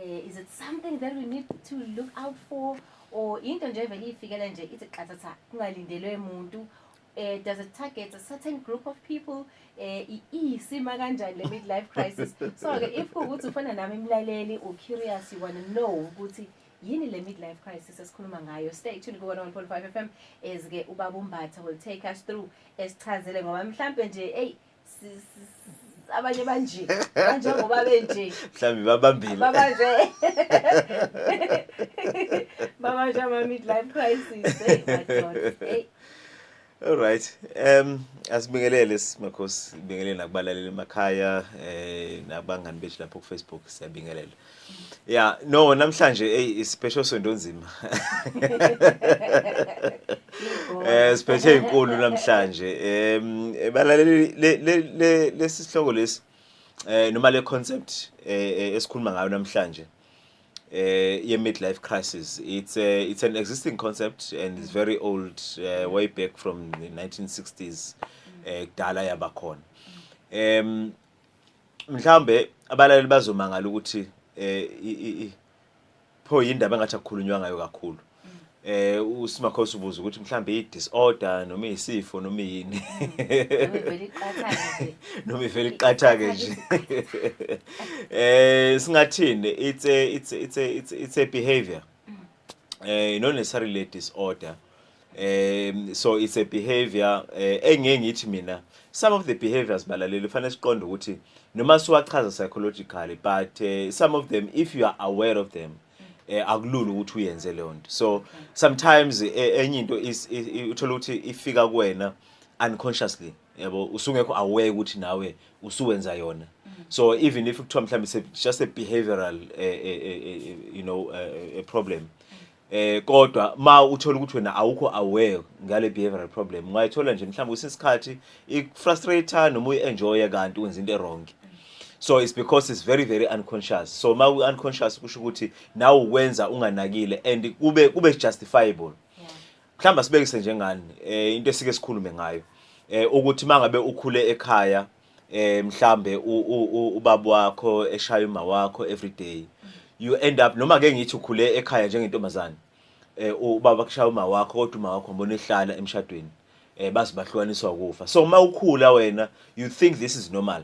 Eh, is it something that we need to look out for or into nje vele ifikela nje ithi qathatha kungalindelwe muntu eh does it target a certain group of people eh isima kanjani le midlife crisis so ke if ukuthi ufana nami imlaleli u curious you want to know ukuthi yini le midlife crisis esikhuluma ngayo stay tuned kuwona 1.5 FM ezike ubaba umbatha will take us through esichazele ngoba mhlambe nje hey abanye banje banjengoba benje mhlawumbe babambile babanje babanje ama midlife crisis hey my god hey Alright. Um asibingelele simakhosi, sibingelele nakubalaleli emakhaya eh nabangani bethu lapho ku Facebook siyabingelela. Yeah, no namhlanje hey isipesho sonto nzima. Eh siphethe inkulu namhlanje. Em balaleli le lesihloko lesi eh noma le concept eh, eh esikhuluma ngayo namhlanje. Eh ye midlife crisis. It's a, it's an existing concept and it's very old uh, way back from the 1960s eh kudala yabakhona. Em mhlawumbe abalaleli bazomangala ukuthi eh pho yindaba engathi akukhulunywa ngayo kakhulu eh usimakhosi ubuza ukuthi mhlambe i disorder noma isifo noma yini noma ivela iqatha ke nje eh singathini it's a it's a it's a it's a behavior mm. eh not necessarily a disorder um so it's a behavior uh, eh, engeke ngithi mina some of the behaviors balaleli kufanele siqonde ukuthi noma siwachaza psychologically but uh, some of them if you are aware of them eh akulula ukuthi uyenze leyo nto so sometimes eh, enye into uthola ukuthi ifika kuwena unconsciously yabo usungekho aware ukuthi nawe usuwenza yona so even if kuthiwa mhlawumbe just a behavioral uh, uh, uh, you know uh, a problem eh kodwa ma uthola ukuthi wena awukho aware ngale behavioral problem ungayithola nje mhlawumbe usisikhathi ikufrustrator noma uyenjoya kanti wenza into erong so it's because it's very very unconscious so ma unconscious kusho ukuthi nawe ukwenza unganakile and kube kube justifiable mhlawumbe sibekise njengani eh into esike sikhulume ngayo eh ukuthi mangabe ukhule ekhaya eh mhlambe ubaba wakho eshaya uma wakho every day you end up noma ke ngithi ukhule ekhaya njengentombazane eh ubaba kushaya uma wakho kodwa uma wakho mbona ehlala emshadweni eh bazi bahlukaniswa ukufa so uma ukhula wena you think this is normal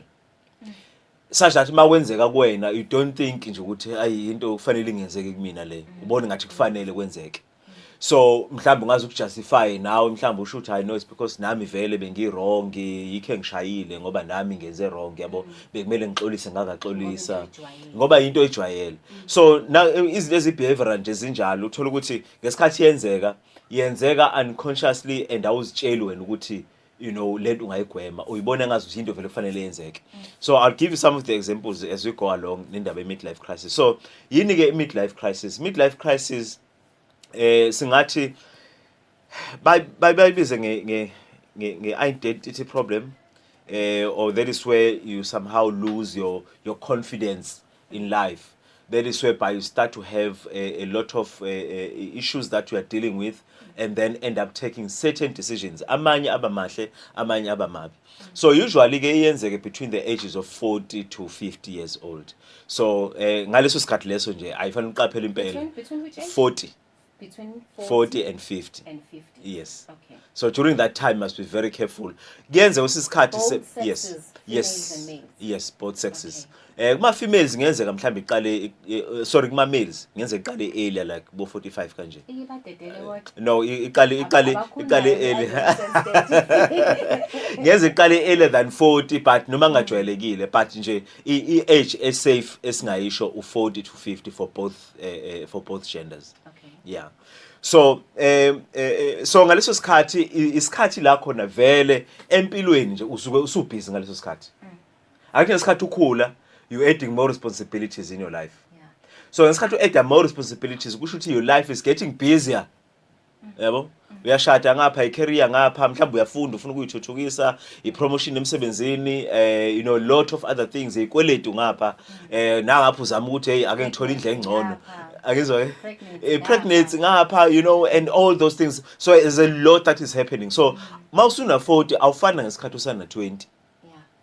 such that uma kwenzeka kuwena you don't think nje ukuthi ayi into kufanele ingenzeke kumina le ubona ngathi kufanele kwenzeke so mhlawumbe ungaze ukujustify nawe mhlawumbe usho ukuthi i know it's because nami vele bengiwrong yikhe ngishayile ngoba nami ngenze wrong yabo mm. bekumele ngixolise ngakaxolisa ngoba into oyijwayele mm. so na izinto ezibehavioral nje zinjalo uthola ukuthi ngesikhathi yenzeka yenzeka unconsciously and awuzitsheli wena ukuthi you know lento ungayigwema uyibona ngazi ukuthi into vele kufanele yenzeke mm. so i'll give you some of the examples as we go along nendaba ye-midlife crisis so yini ke i-midlife crisis midlife crisis eh singathi bayibize nge nge-identity problem eh or that is where you somehow lose your your confidence in life that is whereby you start to have a, a lot of uh, uh, issues that you are dealing with and then end up taking certain decisions amanye aba mahle amanye aba mabi so usually ke iyenzeke between the ages of 40 to 50 years old so eh, ngaleso sikhathi leso nje ayifanele uqaphele impela 40 between 40, 40 and 50 and 50 yes okay so during that time must be very careful kuyenze usisikhathi yes yes yes both sexes okay. eh kuma females ngenzeka mhlambe iqale eh, eh, sorry kuma males ngenze iqale earlier like bo 45 kanje ibadedele what eh, no iqale iqale iqale earlier ngenze iqale earlier than 40 but noma ngajwayelekile but nje i age esafe esingayisho u 40 to 50 for both eh, eh, for both genders okay. yeah so eh, eh, so ngaleso sikhathi isikhathi la khona vele empilweni nje usuke usubhizi ngaleso sikhathi mm. akhe ngesikhathi ukhula you adding more responsibilities in your life yeah. so ngesikhathi u-adda more responsibilities kusho ukuthi your life is getting busier yabo uyashada ngapha i-career ngapha mhlawumbe uyafunda ufuna ukuyithuthukisa i-promotion emsebenzini eh you know lot of other things ikweletu ngapha eh nangapha uzama ukuthi hey ake ngithole indle engcono akizwa eh? eh pregnancy ngapha you know and all those things so there's a lot that is happening so mawusuna 40 awufana ngesikhathi usana 20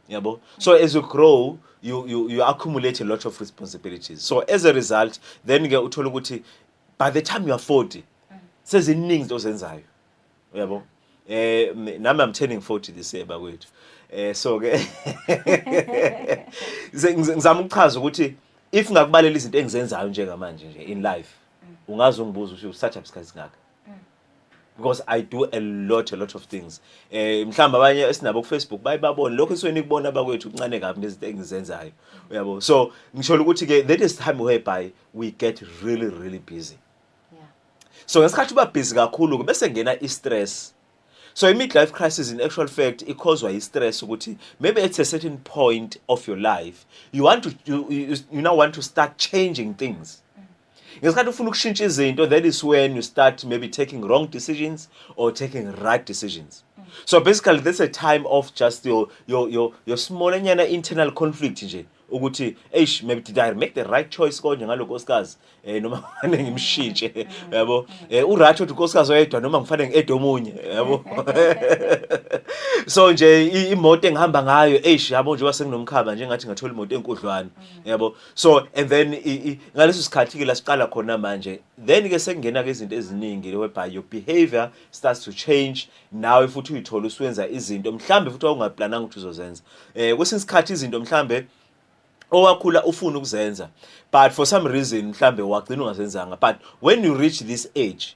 yabo so as you grow you you you accumulate a lot of responsibilities so as a result then ke uthola ukuthi by the time you are 40 seziningi into ozenzayo uyabo eh nami i'm turning 40 this year bakwethu eh so ke ngizama ukuchaza ukuthi if ngakubalela izinto engizenzayo njengamanje nje in life ungaze ungibuze ukuthi usathatha isikhathi singaka because i do a lot a lot of things eh mhlamba abanye esinabo ku Facebook baye babone lokho isweni nikubona bakwethu kuncane kabi ngezinto engizenzayo uyabo so ngisho ukuthi ke that is time whereby we get really really busy yeah so ngesikhathi uba busy kakhulu ke bese ngena i stress so i midlife crisis in actual fact ikhozwa i stress ukuthi maybe at a certain point of your life you want to you, you, you now want to start changing things ngesikhathi ufuna ukushintsha izinto that is when you start maybe taking wrong decisions or taking right decisions so basically that's a time of just your your your, your small nyana internal conflict nje ukuthi eish maybe did I make the right choice konje ngaloko osikazi eh noma ngane ngimshintshe yabo eh urathi uthi nkosikazi oyedwa noma ngifanele ngiede omunye yabo so nje imoto engihamba ngayo eish yabo nje wasenginomkhaba nje ngathi ngathola imoto enkudlwana yabo so and then ngaleso sikhathi ke la siqala khona manje then ke sekungena ke izinto eziningi whereby your behavior starts to change nawe futhi uyithola usuwenza izinto mhlambe futhi wawungaplananga ukuthi uzozenza eh kwesinye isikhathi izinto mhlambe owakhula ufuna ukuzenza but for some reason mhlambe wagcina ungazenzanga but when you reach this age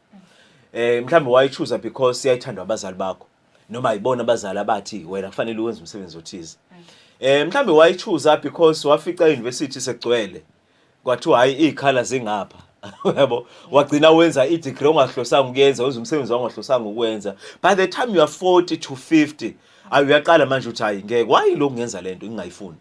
eh mhlawumbe wayichuza because yayithandwa abazali bakho noma ayibona abazali abathi wena kufanele uwenze umsebenzi othize eh mhlawumbe wayichuza because wafica university sekugcwele kwathiwa hayi izikhala zingapha yabo wagcina wenza i-degree ongahlosanga ukuyenza wenza umsebenzi wangahlosanga ukuwenza by the time you are 40 to 50 ayi uyaqala manje uthi hayi ngeke wayilokhu ngenza lento ngingayifuni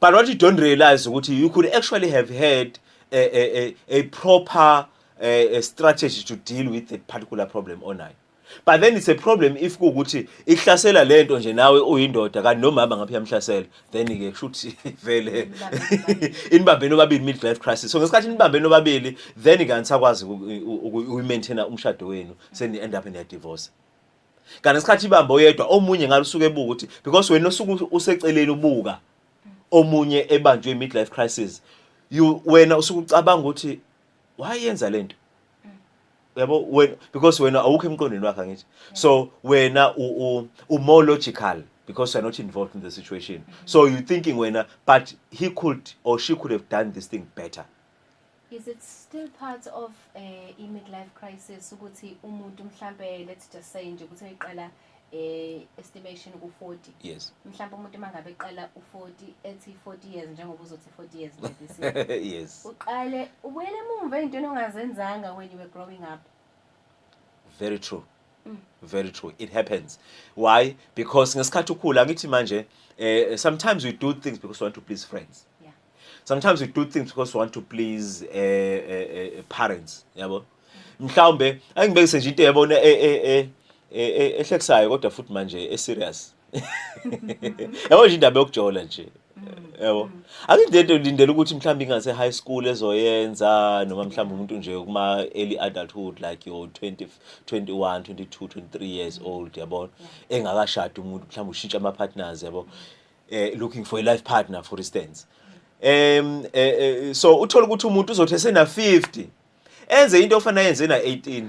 but what you don't realize ukuthi you could actually have had a, a, a, a proper a, a strategy to deal with that particular problem onayo but then it's a problem if kuwukuthi ihlasela le nto nje nawe uyindoda kanti nomama ngaphi yamhlasela then-ke kushuthi vele inibambeni obabili middle life crisis so ngesikhathi inibambeni obabili then-ke anisakwazi uyi-maintaina umshado wenu seni-end up niyadivorce kanti isikhathi ibamba oyedwa omunye ngalusuke ebuka ukuthi because wena osuke useceleni ubuka omunye ebanjwe midlife crisis you wena usuke ucabanga ukuthi wayenza lento yabo wena because wena awukho emqondweni wakhe ngithi so wena u u more logical because you're not involved in the situation so you thinking wena but he could or she could have done this thing better Is it still part of eh i midlife crisis ukuthi umuntu mhlambe let's just say nje ukuthi eqala eh estimation ku 40 yes mhlambe umuntu mangabe eqala u 40 ethi 40 years njengoba uzothi 40 years nje this year yes uqale ubuyele emuva ezintweni ongazenzanga when you were growing up very true Mm. very true it happens why because ngesikhathi ukhula ngithi manje eh sometimes we do things because we want to please friends sometimes we do things because we want to please uh, uh, uh, parents yabo mhlawumbe angibekise nje into yabona ehlekisayo kodwa futhi manje eserious yabo nje indaba yokujola nje yabo akuyinto into lindela ukuthi mhlawumbe ingase high school ezoyenza noma mhlawumbe umuntu nje kuma early adulthood like your 20 21 22 23 years old yabo engakashadi umuntu mhlawumbe ushintsha ama partners yabo eh, looking for a life partner for instance um eh, eh, so uthola ukuthi umuntu uzothi esena 50 enze into ofana yenze na 18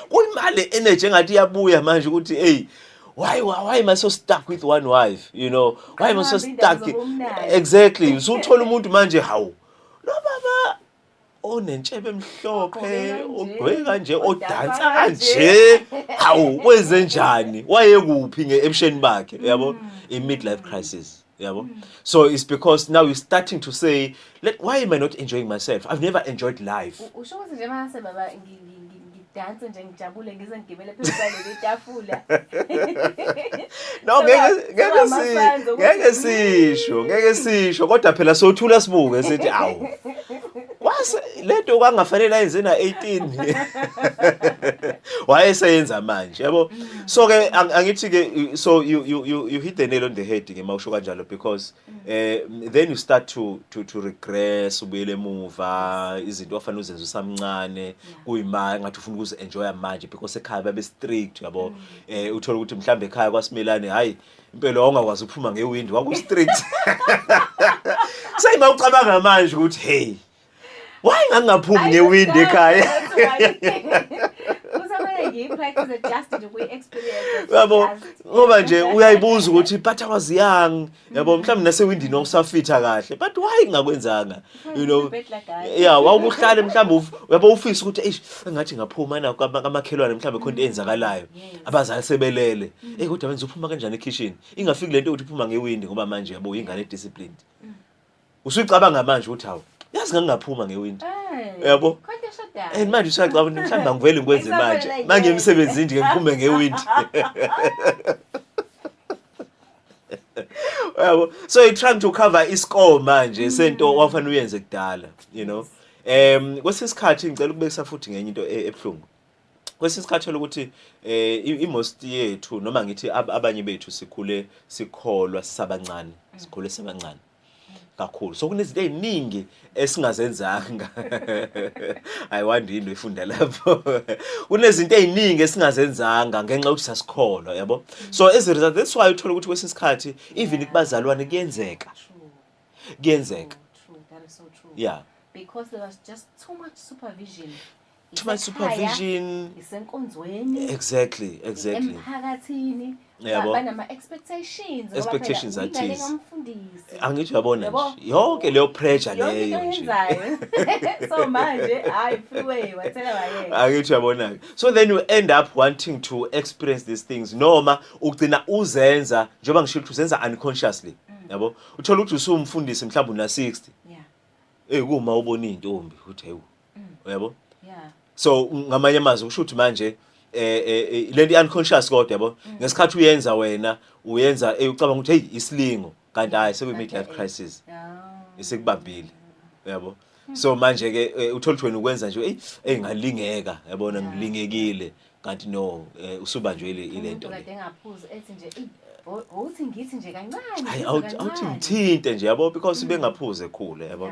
kuyimali energy engathi iyabuya manje ukuthi hey why why am i so stuck with one wife you know why am i so stuck exactly usuthola umuntu manje hawu no baba onentshebe emhlophe ogqoke kanje odansa kanje hawu wenze njani wayekuphi ngeebusheni bakhe yabo mm. i-midlife crisis yabo mm. so it's because now you're starting to say Let, why am i not enjoying myself i've never enjoyed life usho ukuthi nje mase baba ngidanse nje ngijabule ngize ngigibele phezu kwaleli tafula no ngeke ngeke si ngeke sisho ngeke sisho kodwa phela sothula sibuke sithi awu kwase lento kwangafanele ayenze na 18 wayeseyenza manje yabo so ke angithi ke so you you you hit the nail on the head ngema usho kanjalo because eh then you start to to to regress ubuyele emuva izinto ofana uzenza usamncane kuyima ngathi ufuna ukuzi enjoy manje because ekhaya babe strict yabo mm. eh uthola ukuthi mhlambe ekhaya kwasimelane hayi impela ongakwazi ukuphuma ngewindi waku strict sayima ucabanga manje ukuthi hey Why ngangaphumi ngewindi ekhaya? Yabo ngoba nje uyayibuza ukuthi but I was young. Yabo mhlawumbe nasewindini wawusafitha kahle but why ngakwenzanga? You know. Yeah, wawukuhlale mhlawumbe yabo ufisa ukuthi eish engathi ngaphuma na kamakhelwane mhlawumbe khona into eyenzakalayo. Abazali sebelele. Mm. Eh kodwa wenza uphuma kanjani ekitchen? Ingafiki lento ukuthi uphuma ngewindi ngoba manje yabo ingane disciplined. Usuyicabanga manje ukuthi hawu yazi ngangingaphuma ngewindi. Eh, Yabo? Kodwa eshadayo. And manje usuyacabanga ukuthi mhlawumbe angivele ngikwenze manje. Isabela, yeah. Manje emsebenzini nje ngiphume ngewindi. Yabo? So you're trying to cover iscore manje sento wafanele uyenze kudala, you know. Em kwesinye isikhathi ngicela ukubekisa futhi ngenye into e- ebuhlungu. kwesinye isikhathi thola ukuthi um i-most yethu noma ngithi abanye bethu sikhule sikholwa sisabancane mm. sikhule sibancane kakhulu so kunezinto eziningi esingazenzanga i wonder into ifunda lapho kunezinto eziningi esingazenzanga ngenxa yokuthi sasikholwa yabo so as a result that's why uthola ukuthi kwesinye isikhathi even kubazalwane kuyenzeka kuyenzeka yeah because there was just too much supervision to my supervision isenkonzweni exactly exactly emphakathini yabo banama expectations expectations are these ngomfundisi angithi uyabona nje yonke leyo pressure leyo nje so manje hayi freeway wathela wayeka angithi uyabona ke so then you end up wanting to experience these things noma ugcina uzenza njengoba ngisho ukuthi uzenza unconsciously mm. yabo uthola ukuthi usumfundisi mhlawumbe una 60 yeah eh kuma ubona izintombi uthi hayi uyabo yeah so ngamanye amazwi kusho ukuthi manje eh, eh, eh lento i-unconscious kodwa yabo mm. ngesikhathi uyenza wena uyenza eh, ucabanga ukuthi hey isilingo kanti hayi sekuyi-midlife crisis isikubambile yabo hmm. so manje ke eh, uthola ukuthi wena ukwenza nje eyi eyi ngalingeka yabona ngilingekile kanti no eh, usubanjwe ile ile nto le engaphuza ethi nje uthi ngithi nje kancane hayi awuthi ngithinte nje yabo because mm. bengaphuze ekhule yabo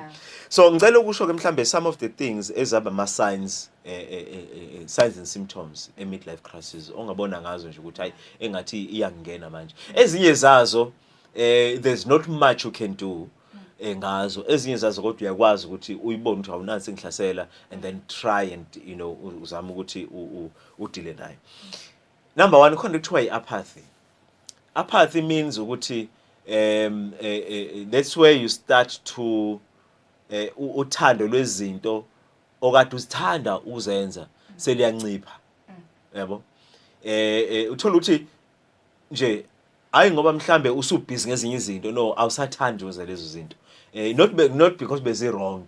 so ngicela ukusho ke mhlambe some of the things ezaba ama signs eh, eh, eh, signs and symptoms e midlife crisis ongabona ngazo nje ukuthi hayi engathi iyangena manje ezinye zazo eh there's not much you can do eh ngazo ezinye zazo kodwa uyakwazi ukuthi uyibone ukuthi awunani sengihlasela and then try and you know uzama ukuthi udile naye number 1 khona kuthiwa iapathy apathy means ukuthi um eh, eh, eh, that's where you start to eh uthando lwezinto okade uzithanda uzenza seliyancipha yabo eh uthola ukuthi nje hayi ngoba mhlambe usubhizi ngezinye izinto no awusathandi wenza lezo zinto eh not be, not because bezi wrong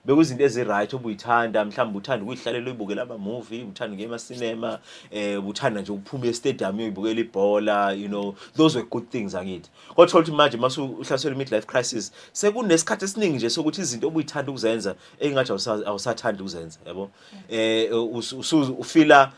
bekuzinto ezi right obuyithanda mhlawumbe uthanda ukuyihlalela uyibukela ama movie uthanda ngema cinema eh uthanda nje ukuphuma e stadium uyibukela ibhola you know those were good things angithi kodwa ukuthi manje masu uhlasela mid life crisis sekunesikhathi esiningi nje sokuthi izinto obuyithanda ukuzenza engathi awusathanda ukuzenza yabo eh ufila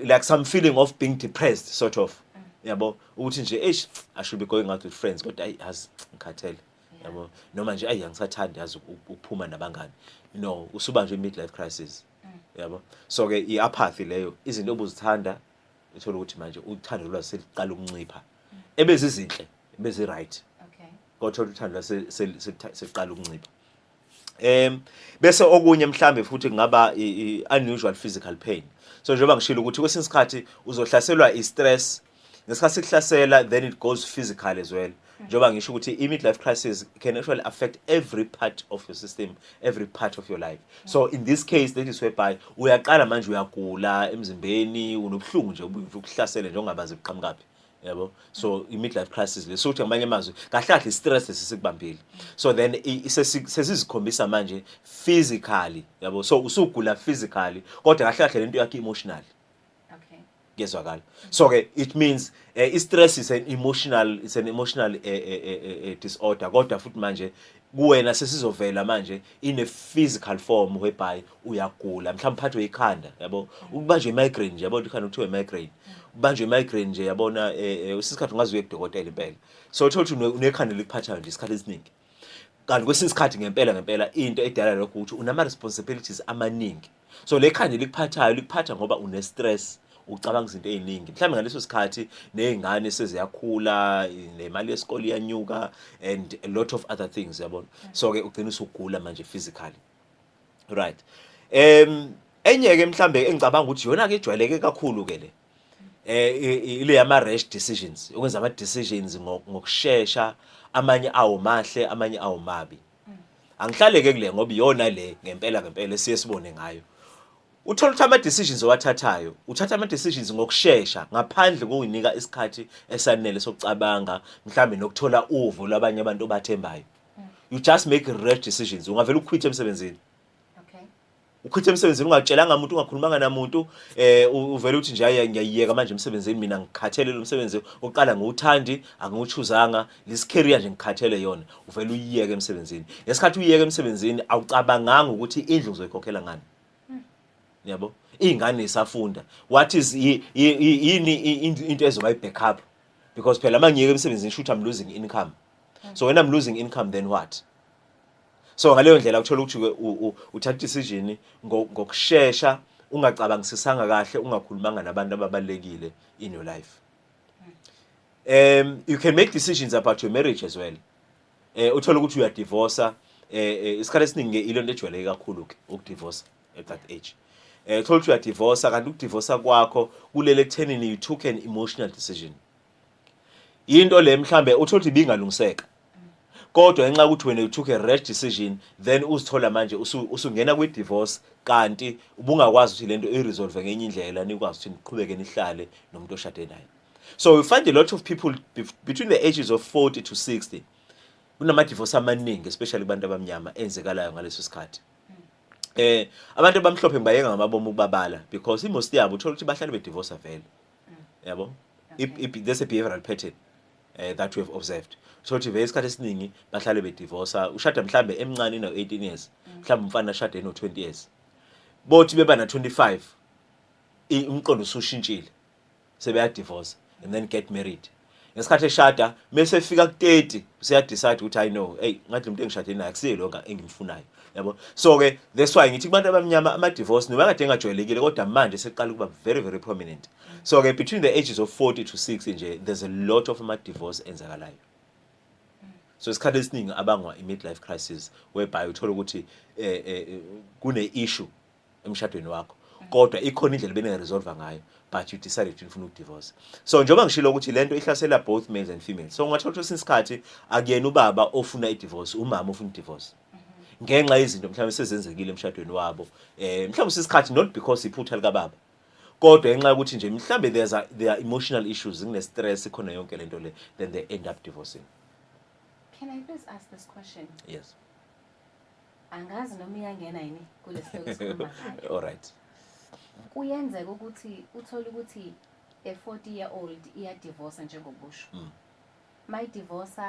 like some feeling of being depressed sort of yabo ukuthi nje eish i should be going out with friends kodwa ayi yazi ngikhathele yabo noma nje ayi angisathandi yazi ukuphuma nabangani no usuba nje midlife crisis mm. yabo so ke iapathy leyo izinto obuzithanda uthola ukuthi manje uthando lwazi seliqala ukuncipha mm. ebezizinhle ebezi right okay kodwa uthando lwazi seliqala ukuncipha em bese okunye mhlambe futhi kungaba unusual physical pain so njengoba ngishilo ukuthi kwesinye isikhathi uzohlaselwa i-stress ngesikhathi sikuhlasela then it goes physical as well njengoba ngisho ukuthi i-midlife crisis can actually affect every part of your system every part of your life so in this case that is whereby uyaqala manje uyagula emzimbeni unobuhlungu nje ukuhlasele njengoba bazi buqhamukaphi yabo so i-midlife crisis le sokuthi ngamanye amazwi kahle kahle i-stress sesikubambile so then sesizikhombisa manje physically yabo so usugula physically kodwa kahle kahle lento yakhe emotionally kuyezwakala so ke it means uh, i-stress is an emotional it's an emotional uh, uh, uh, disorder kodwa futhi manje kuwena sesizovela manje in a physical form whereby uyagula mhlawumbe uphathwe ikhanda yabo ukubanjwe imigraine nje yabo ikhanda kuthiwa imigraine ubanjwe imigraine nje yabona eh, eh, usisikhathi ungazi uye kudokotela impela so uthola ukuthi unekhanda likuphathayo nje isikhathi esiningi kanti kwesinye isikhathi ngempela ngempela into edala lokho ukuthi unama responsibilities amaningi so le khanda likuphathayo likuphatha ngoba une stress ucabanga izinto eziningi mhlawumbe ngaleso sikhathi nezingane seziyakhula nemali yesikole iyanyuka and a lot of other things yabona so ke ugcina usugula manje physically right em enye ke mhlambe engicabanga ukuthi yona ke ijwayeleke kakhulu ke le eh ile yama rash decisions ukwenza ama decisions ngokusheshsha amanye awo mahle amanye awo mabi angihlaleke kule ngoba iyona le ngempela ngempela esiye sibone ngayo uthola ukuthi ama-decisions owathathayo uthatha ama-decisions ngokushesha ngaphandle kokuyinika isikhathi esanele sokucabanga mhlawumbe nokuthola uvo lwabanye abantu obathembayo you just make rash decisions ungavele ukhwithe emsebenzini ukhithe emsebenzini ungatshelanga muntu ungakhulumanga namuntu eh uvele uthi nje hayi ngiyayiyeka manje emsebenzini mina ngikhathele lo msebenzi oqala ngiwuthandi angiwuchuzanga this career nje ngikhathele yona uvele uyiyeke emsebenzini ngesikhathi uyiyeke emsebenzini awucabanganga ukuthi indlu uzoyikhokhela ngani yabo ingane isafunda what is yini into ezoba ibackup because phela mangiyeke emsebenzini shoot i'm losing income so when i'm losing income then what so ngaleyo ndlela uthola ukuthi uthatha decision ngokushesha ungacabangisisanga kahle ungakhulumanga nabantu ababalekile in your life um you can make decisions about your marriage as well eh uthola ukuthi uyadivorce eh, eh isikhathi esiningi ilo nto ejwayeleke kakhulu ke ukudivorce at that age eh uthola ukuthi uyadivorce kanti ukudivorce kwakho kulele ekuthenini you took an emotional decision into le mhlambe uthola ukuthi ibingalungiseka kodwa ngenxa ukuthi wena you took a rash decision then uzithola manje usungena kwi divorce kanti ubungakwazi ukuthi lento iresolve ngenye indlela nikwazi ukuthi niqhubeke nihlale nomuntu oshade naye so we find a lot of people between the ages of 40 to 60 kunama divorce amaningi especially kubantu abamnyama enzekalayo ngaleso sikhathi eh abantu abamhlophe ngibayeka ngamabomu ukubabala because imost yabo uthola ukuthi bahlale be divorce vele yabo there's a behavioral pattern uh, that we have observed so ukuthi vele isikhathi esiningi bahlale bedivorsa ushada mhlambe emncane na 18 years mm. mhlambe umfana ashade no 20 years bothi beba na 25 umqondo usushintshile sebeyadivorsa and then get married ngesikhathi eshada mese efika ku-30 useyadecide ukuthi hayi no eyi ngathi lo muntu engishade naye akusiye lo engimfunayo yabo so ke that's why ngithi kubantu abamnyama ama-divorce noma kade engajwayelekile kodwa manje seqala ukuba very very prominent so ke between the ages of 40 to 60 nje there's a lot of ama-divorce enzakalayo so isikhathi esiningi abangwa i-midlife crisis whereby uthole ukuthi um kune-issue emshadweni wakho kodwa ikhona indlela beningaresolva ngayo but you decided ukuthi nifuna ukudivorce so njengoba ngishilo ukuthi lento ihlasela both males and females so ungathola ukuthi isikhathi akuyena ubaba ofuna idivorce umama ofuna idivorce ngenxa yezinto mhlawumbe sezenzekile emshadweni wabo eh mhlawumbe sisikhathi not because iphutha lika baba kodwa ngenxa yokuthi nje mhlawumbe there's a, there are emotional issues ngine stress khona yonke lento le then they end up divorcing can i please ask this question yes angazi noma iyangena yini kulesihloko all right kuyenzeka ukuthi uthole ukuthi a 40 year old iya divorce njengokusho mm. my divorce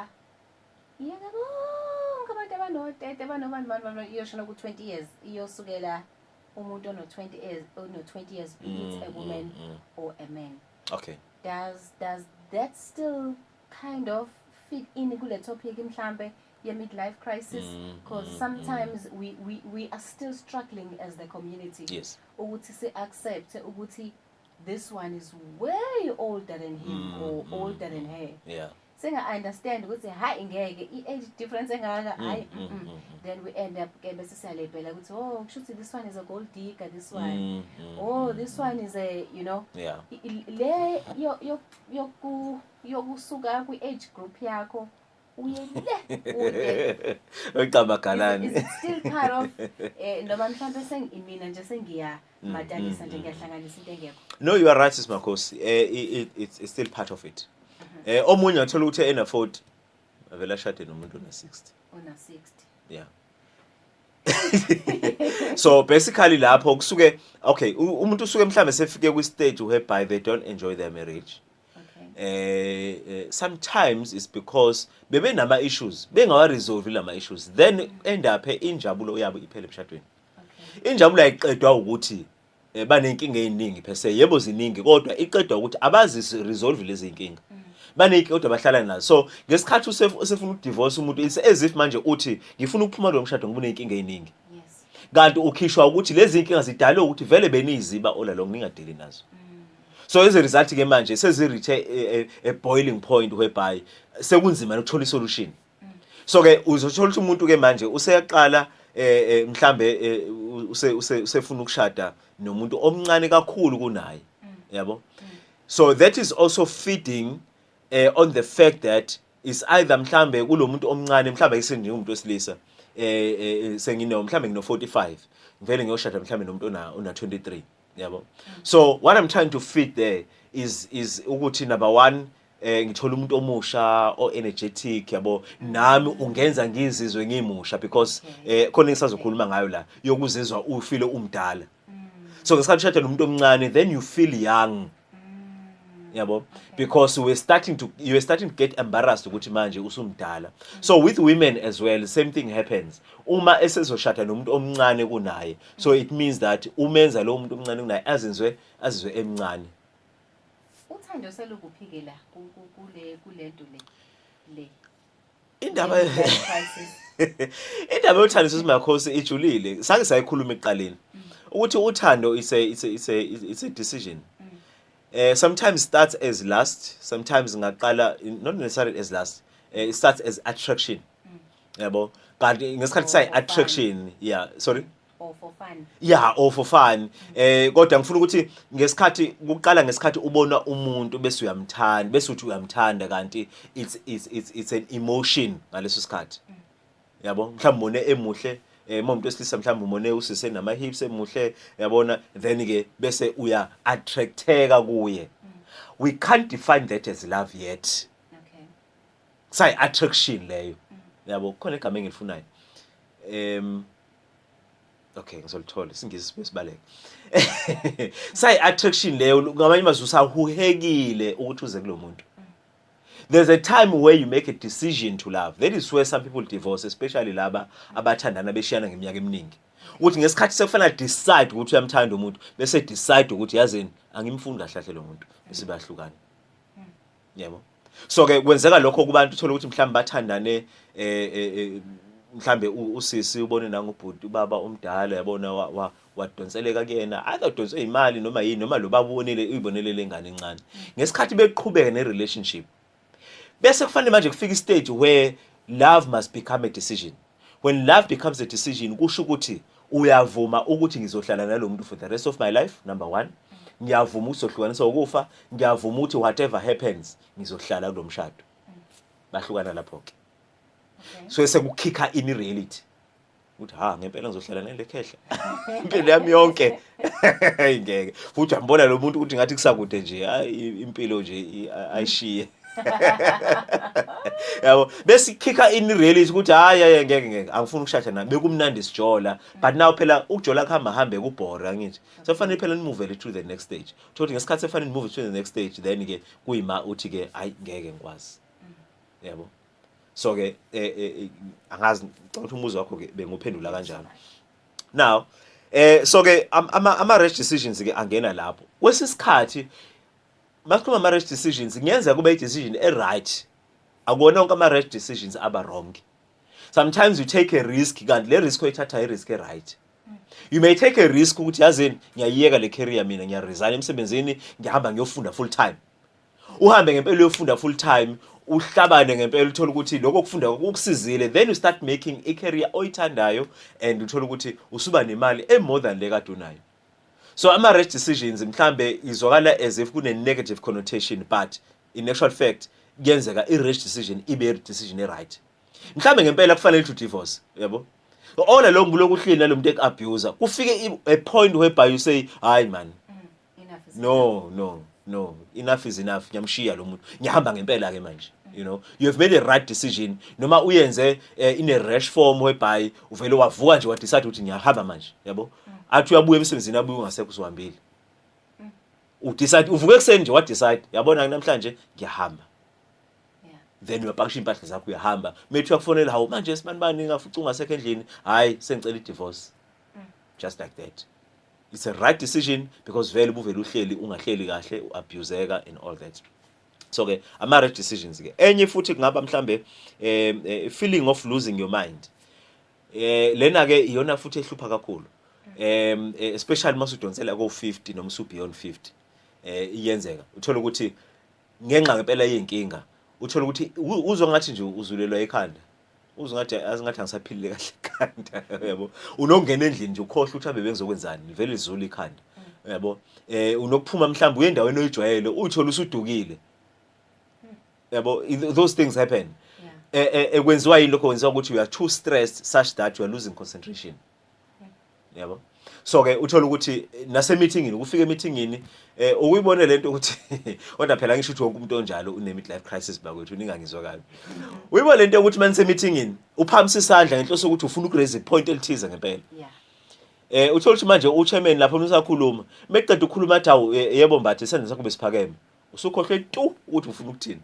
iyeke bonke abantu abanotete banobani bani bani iyosho noku 20 years iyosukela umuntu ono 20 years ono 20 years be it mm, a woman mm, mm. or a man okay does does that still kind of fit in kule topic mhlambe ye midlife crisis mm, because mm, sometimes mm. we, we we are still struggling as the community yes ukuthi si accept ukuthi this one is way older than him mm, or mm, older than her yeah singa understand ukuthi hayi ngeke i age difference engaka hayi mm, mm, mm, then we end up ke bese siyalebhela ukuthi oh kushuthi this one is a gold digger this one mm, mm, oh this one is a you know yeah le yoku yokusuka kwi age group yakho uyelile kude Ecaba is galani. it still part of eh noma mhlawumbe sengimina nje sengiya Mm, matalisa nje ngiyahlanganisa into engekho No you are right sis Makhosi. Eh i- i- it's it's still part of it. Mm-hmm. Eh omunye athola ukuthi en afford avela shade nomuntu na 60. ona 60 Yeah. so basically lapho kusuke okay u- umuntu usuke mhlambe sefike kwi stage whereby they don't enjoy their marriage okay eh, eh sometimes is because bebe nama issues bengawa resolve lama issues then end up injabulo yabo iphele emshadweni okay. injabulo ayiqedwa ukuthi eh, banenkinga eziningi per se yebo ziningi kodwa iqedwa ukuthi abazi resolve lezi inkinga mm. baneyiki kodwa bahlala nazo so ngesikhathi usefuna ukudivorce umuntu it's as if manje uthi ngifuna ukuphuma lo mshado ngoba unenkinga eziningi kanti ukhishwa ukuthi lezi inkinga zidalwe ukuthi vele beniyiziba ola lo ngingadeli nazo mm. so as a result ke manje sezireach a, a, a boiling point whereby sekunzima ukuthola isolution so ke uzothola ukuthi umuntu ke manje useyaqala eh, eh mhlambe eh, use usefuna ukushada nomuntu omncane kakhulu kunaye yabo so that is also feeding eh, on the fact that is either mhlambe kulomuntu omncane mhlambe isenje umuntu wesilisa eh, eh, eh sengino mhlambe ngino 45 ngivele ngiyoshada mhlambe nomuntu ona 23 yabo so what i'm trying to fit there is is ukuthi number one eh ngithola umuntu omusha o energetic yabo nami ungenza ngizizwe ngimusha because eh khona engisazokhuluma ngayo la yokuzizwa ufile umdala so ngesikhathi ushada nomuntu omncane then you feel young yabo because we're starting to you're starting to get embarrassed ukuthi manje usumdala so with women as well the same thing happens uma esezoshada nomuntu omncane kunaye so it means that umenza lo muntu omncane kunaye azizwe azizwe emncane uthando selukuphikela kule kulento le le indaba indaba yothando sesimakhosi ijulile sake sayikhuluma ekuqaleni mm. ukuthi uthando is a is a is a, is a decision mm. eh sometimes starts as last sometimes ngaqala not necessarily as last uh, it starts as attraction mm. yabo kanti ngesikhathi oh, sayi attraction yeah sorry ofofani ya ofofani eh kodwa ngifuna ukuthi ngesikhathi kuqala ngesikhathi ubona umuntu bese uyamthanda bese uthi uyamthanda kanti it's it's it's, it's an emotion ngaleso sikhathi mm. yabo mhlawumbe mone emuhle eh umuntu wesilisa mhlawumbe umone usise nama hips emuhle yabona then ke bese uya attracteka kuye mm. we can't define that as love yet okay say attraction leyo mm. yabo khona igama engilifunayo em okay ngizolithola isingisi besibaleka say attraction leyo ngamanye amazwi usahuhekile ukuthi uze kulomuntu there's a time where you make a decision to love that is where some people divorce especially laba abathandana beshiyana ngeminyaka eminingi ukuthi ngesikhathi sekufanele decide ukuthi uyamthanda umuntu bese decide ukuthi yazini angimfuni kahle kahle lo muntu bese bayahlukana yebo so ke kwenzeka lokho kubantu uthola ukuthi mhlawumbe bathandane eh, eh, eh mhlambe usisi ubone nangubhuti ubaba omdala yabona wadonseleka kuyena either udonswe imali noma yini noma lo baba ubonile uyibonele lengane encane ngesikhathi beqhubeka ne relationship bese kufanele manje kufika istage where love must become a decision when love becomes a decision kusho ukuthi uyavuma ukuthi ngizohlala nalo muntu for the rest of my life number one ngiyavuma ukuthi sohlukanisa ukufa ngiyavuma ukuthi whatever happens ngizohlala kulo mshado bahlukana lapho ke so sekukhikha ini reality ukuthi ha ngempela ngizohlala nale khehla impilo yami yonke ngeke futhi ambona lo muntu ukuthi ngathi kusakude nje impilo nje ayishiye yabo besikhikha in reality ukuthi hayi hayi ngeke ngeke angifuni ukushada naye bekumnandi sijola but now phela ukujola kuhamba hambe kubhore angithi sofanele phela nimuvele to the next stage thothi ngesikhathi efanele nimove to the next stage then ke kuyima uthi ke hayi ngeke ngikwazi yabo so ke eh, eh, eh, angazi ngicela ukuthi umuzi wakho ke benguphendula kanjalo now eh so ke ama ama rash decisions ke angena lapho kwesisikhathi masikhuluma ama rash decisions ngiyenzeka kube i decision e right akona onke ama rash decisions aba wrong sometimes you take a risk kanti le risk oyithatha i risk e right you may take a risk ukuthi yazini ngiyayiyeka le career mina ngiyaresign emsebenzini ngihamba ngiyofunda full time uhambe ngempela uyofunda full time uhlabane ngempela uthola ukuthi lokho kufunda kukusizile then you start making a career oyithandayo and uthola ukuthi usuba nemali e more than le kade unayo so ama rash decisions mhlambe izwakala as if kune negative connotation but in actual fact kuyenzeka i rash decision ibe decision e right mhlambe ngempela kufanele to divorce yabo ola lo ngulokuhlini nalomuntu eku abuser kufike a point whereby you say hayi man no no no enough is enough ngiyamshiya lo muntu ngiyahamba ngempela ke manje you know you have made a right decision noma uyenze eh, in a rash form whereby uvele wavuka nje wadecide ukuthi ngiyahamba manje yabo mm. athi uyabuya emsebenzini abuye ungasekho usuhambile mm. udecide uvuke ekuseni nje wadecide yabona namhlanje ngiyahamba then uyapakisha impahla zakho uyahamba methi uyakufonela hawu manje sibanibani ngafuca ungasekho endlini hayi sengicela i-divorce mm. just like that it's a right decision because vele ubuvele uhleli ungahleli kahle uabuseka and all that so ke ama right decisions ke enye futhi kungaba mhlambe eh, eh feeling of losing your mind eh lena ke iyona futhi ehlupha kakhulu um especially masudonsela ko 50 noma su beyond 50 eh iyenzeka uthola ukuthi ngenxa ngempela yey'nkinga uthole ukuthi uzwa ngathi nje uzulelwa ekhanda uzwa ngathi azingathi angisaphilile kahle ekhanda yabo unokungena endlini nje ukhohlwa ukuthi abe bengizokwenzani livele lizula ikhanda yabo eh unokuphuma mhlawumbe uye endaweni oyijwayele uyithola usudukile yabo those things happen ekwenziwa eh, eh, yini lokho kwenziwa ukuthi you are too stressed such that you are losing concentration yabo so ke uthola ukuthi nase meetingini ukufika emeetingini eh ukuyibone lento ukuthi kodwa phela ngisho ukuthi wonke umuntu onjalo une midlife crisis bakwethu ningangizwa kabi uyibone lento ukuthi manise meetingini uphamisa isandla ngenhloso ukuthi ufuna ukuraise point elithize ngempela yeah eh uthola ukuthi manje uchairman lapho usakhuluma meqeda ukukhuluma athi awu eh, yebo mbathe isandla sakho besiphakeme usukhohlwe tu ukuthi ufuna ukuthini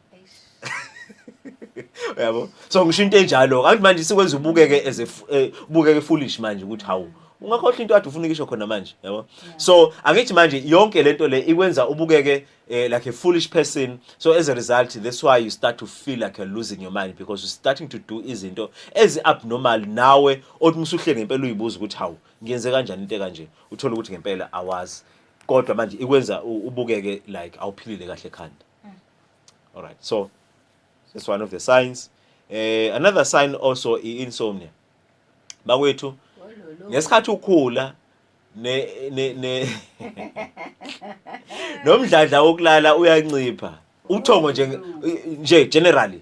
yabo so ngisho into enjalo kanti manje sikwenza ubukeke as eh, ubukeke foolish manje ukuthi hawu ungakhohlwa into ade ufuna ukisho khona manje yabo so angithi manje yonke lento le ikwenza ubukeke eh, like a foolish person so as a result that's why you start to feel like you're losing your mind because you're starting to do izinto ezi abnormal nawe othi musuhleke ngempela uyibuza ukuthi hawu ngiyenze kanjani into kanje uthola ukuthi ngempela awazi kodwa manje ikwenza u- ubukeke like awuphilile kahle ekhanda all right so that's one of the signs eh another sign also i-insomnia bakwethu ngesikhathi ukhula ne ne ne nomdladla wokulala uyancipha uthongo nje nje generally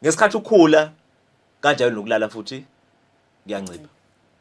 ngesikhathi ukhula kanjalo nokulala futhi kuyancipha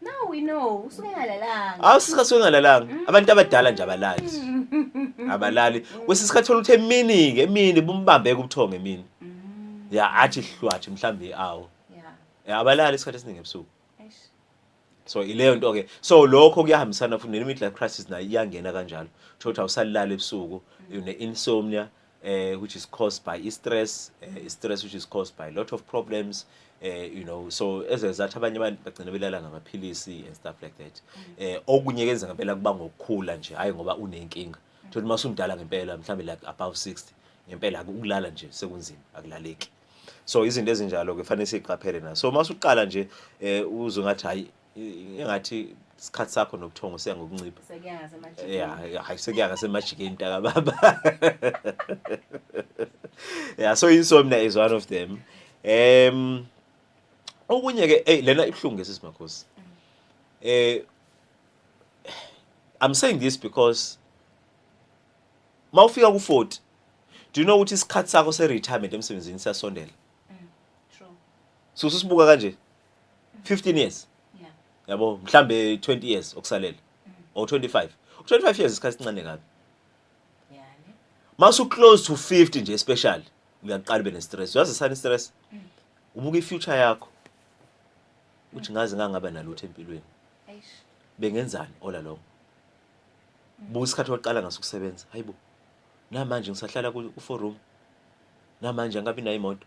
Now we know usuke engalalanga. Awu sika suke ngalalanga. Mm. Abantu abadala nje abalali. Mm. Abalali. Kwesinye isikhathi thola ukuthi emini ke emini bumbambeke ubuthongo emini. Mm. Ya athi hlwathi mhlambi awu. Ya. Abalali isikhathi esiningi ebusuku. So ileyo nto ke. So lokho kuyahambisana futhi ne midlife crisis nayo iyangena kanjalo. Thola ukuthi awusalala ebusuku, une insomnia. Mm. uh, which is caused by stress uh, stress which is caused by a lot of problems uh, you know so ezezathi abanye abantu bagcina belala ngamaphilisi and stuff like that eh okunye kenza ngempela kuba ngokukhula nje hayi ngoba unenkinga thola uma usumdala ngempela mhlambe like above 60 ngempela akulala nje sekunzima akulaleki so izinto ezinjalo ke fanele siqaphele na so uma usuqala nje eh uzungathi hayi engathi isikhathi sakho nobuthongo siya ngokuncipha ya hayi sekuya ngasemajikeni mntaka baba ya so insomnia is one of them um okunye ke hey lena ibuhlungu ngesisi makhosi eh i'm saying this because mawufika ku40 do you know ukuthi isikhathi sakho se retirement emsebenzini siyasondela mm, true so ususibuka kanje 15 years yeah yabo mhlambe 20 years okusalele mm. or 25 25 years isikhathi sincane kabi yeah masu close to 50 nje especially uyaqala ube nestress uyazi sani stress mm. ubuka ifuture yakho uthi mm. ngaze ngangaba nalutho empilweni bengenzani ola lo buka isikhathi waqala ngaso ukusebenza hayibo namanje ngisahlala ku forum namanje angabi nayo imoto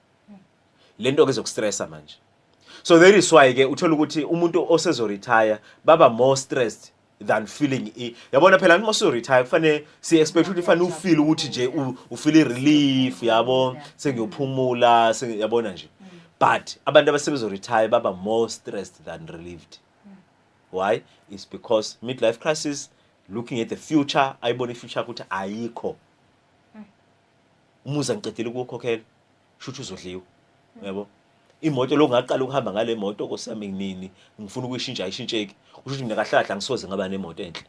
le nto ke zokustressa manje so that is why ke uthola ukuthi umuntu osezoretire baba more stressed than feeling i yabona phela noma usuretire kufanele si expect ukuthi fanele ufeel ukuthi nje u feel relief yabo sengiyophumula yabona nje but abantu abasebenza retire baba more stressed than relieved why is because midlife crisis looking at the future ayibona ifuture ukuthi ayikho umuzi angiqedile ukuwukhokhela shuthi uzodliwa yebo imoto lo ngaqala ukuhamba ngale moto kosami nini ngifuna ukuyishintsha ayishintsheki usho ukuthi mina kahlahla ngisoze ngaba nemoto enhle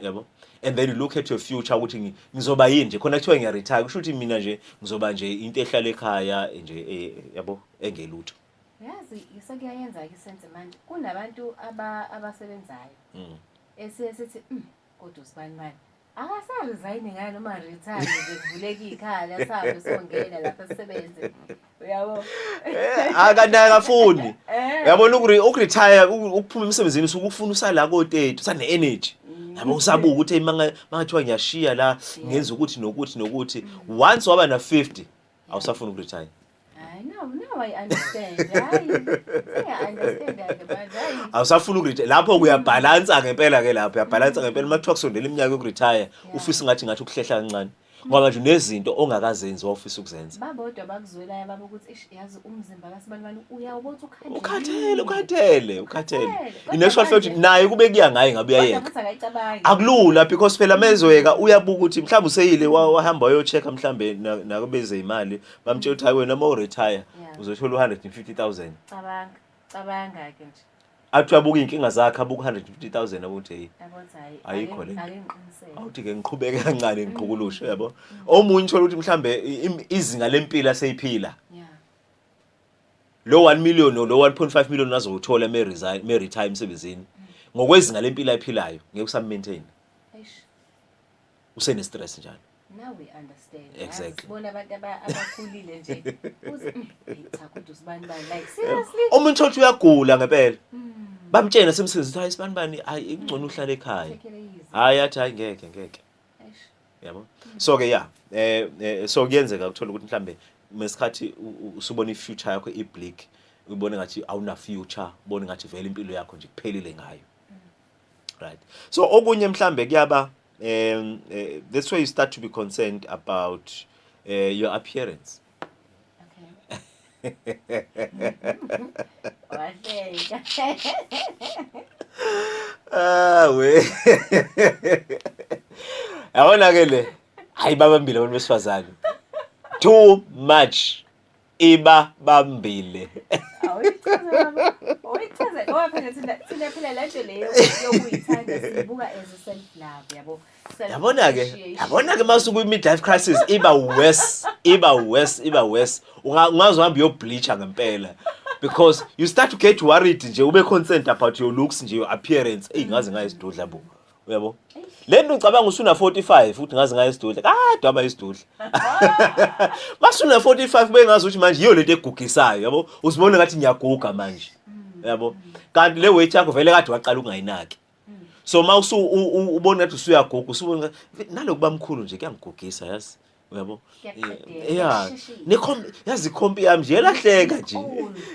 yabo and then you look at your future ukuthi ngizoba yini nje khona kuthiwa ngiya retire kusho ukuthi mina nje ngizoba nje into ehlala ekhaya nje e, yabo engelutho yazi sekuyayenza ke senze manje kunabantu abasebenzayo mm. esiye sithi mm, kodwa usibani manje akasaresigni ngani uma retire ngivuleka ikhala sabe songena lapha sisebenze uyabo eh, akanaka funi eh. yabona ukuretire ukuphuma emsebenzini usuke ufuna usala ko-30 usane energy mm. yabo usabuka ukuthi mangathiwa ngiyashiya la ngenza ukuthi nokuthi nokuthi mm. once waba na-50 awusafuni ukuretire Hayi now now I understand. Hayi. I understand that but hayi. Awusafuna ukuretire. Lapho kuyabhalansa ngempela ke lapho. Uyabhalansa ngempela uma kuthiwa kusondela iminyaka yokuretire, ufisa ngathi ngathi ukuhlehla kancane. Ngoba nje unezinto ongakazenzi wawufisa ukuzenza. Babodwa bakuzwelayo baba ukuthi ish yazi umzimba kaSibanibani uyawubona ukhathele. Ukhathele, ukhathele, ukhathele. Ineshwa futhi naye kube kuya ngaye ngabe uyayeka. Akulula because phela mezweka uyabuka ukuthi mhlawumbe useyile wahamba uyochecka mhlawumbe nakubeze imali bamtshela ukuthi hayi wena uma uretire Yeah. uzothola u-150000 cabanga cabanga-ke nje athi abuke iy'nkinga zakhe abuke u-150000 abuthi eyi yabo ukuthi hhayi Ayikho le nto. akengiqinisele awuthi-ke ngiqhubeke kancane ngiqhukulushe yabo omunye uthole ukuthi mhlawumbe i- im- izinga lempilo aseyiphila ya lo 1 million lo 1.5 million azowuthola me-resign- me-retire emsebenzini ngokwezinga lempilo ayiphilayo ngeke usammaintaine eish usene stress njalo now we understand exactly bona abantu abakhulile nje mm, cha kodwa usibani bani like seriously umuntu othi uyagula ngempela mm. bamtshena simsizitha hayi isibani bani hayi ingcono uhlala ekhaya hayi athi hayi ngeke ngeke yabo so ke ya eh, eh so kuyenzeka ukuthola ukuthi mhlambe mesikhathi usubona ifuture yakho ibleak ubone ngathi awuna future ubone ngathi vele impilo yakho nje kuphelile ngayo right so okunye mhlambe kuyaba um uh, that's where you start to be concerned about uh, your appearance ah we yabona ke le hayi babambile abantu besifazane too much iba bambile oyichaza ngoba phela thina thina phela le nto leyo yokuyithanda sibuka as a self love yabo yabona ke yabona ke mase kwi midlife crisis iba worse iba worse iba worse ungazohamba yo bleacher ngempela because you start to get worried nje ube concerned about your looks nje your appearance eyi ngaze ngayisidudla bo uyabo le nto ngicabanga usuna 45 ukuthi ngazi ngayo isidudla kade aba isidudla masuna 45 kube ngazi ukuthi manje yiyo lento egugisayo yabo uzibona ngathi ngiyaguga manje yabo kanti le weight yakho vele kade waqala ukungayinaki so mawusu ubona ukuthi usuyaguga usubona nalokuba mkhulu nje kuyangigugisa yazi uyabo eh, ya nekhompi yazi ikhompi yami nje elahleka nje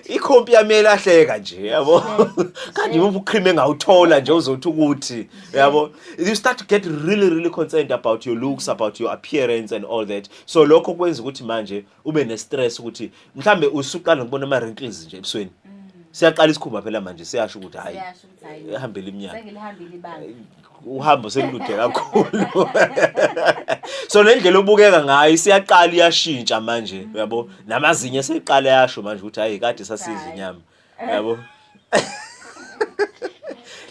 ikhompi yami elahleka nje yabo kanti yimuphi ucream engawuthola nje uzothi ukuthi yabo you start to get really really concerned about your looks about your appearance and all that so lokho kwenza ukuthi manje ube ne stress ukuthi mhlambe usuqala ngibona ama wrinkles nje ebusweni mm. siyaqala isikhumba phela manje siyasho ukuthi hayi ehambele iminyaka uhambo selude kakhulu so nendlela obukeka ngayo isiyaqala iyashintsha manje uyabo namazinyo seqala yasho manje ukuthi hayi kade sasidla inyama uyabo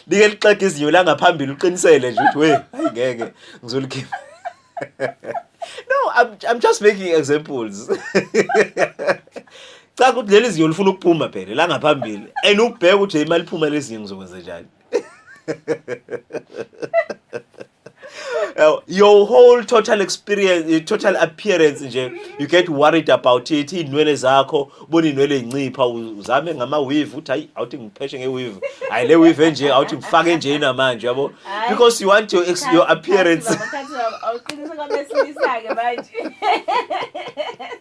like lixega izinyo la ngaphambili uqinisele nje ukuthi we hayi ngeke ngizolikhipha no I'm, i'm just making examples cha ukuthi leli zinyo lifuna ukuphuma phela la ngaphambili and ukubheka ukuthi imali iphuma lezi zinyo ngizokwenza njani your whole total experience eh, total appearance nje you get worried about it inwele zakho ubona inwele incipha uzame ngama weave uthi hayi awuthi ngipheshe nge weave hayi le weave nje awuthi ngifake nje namanje yabo because you want your, your appearance awuqinisa kwabesilisa ke manje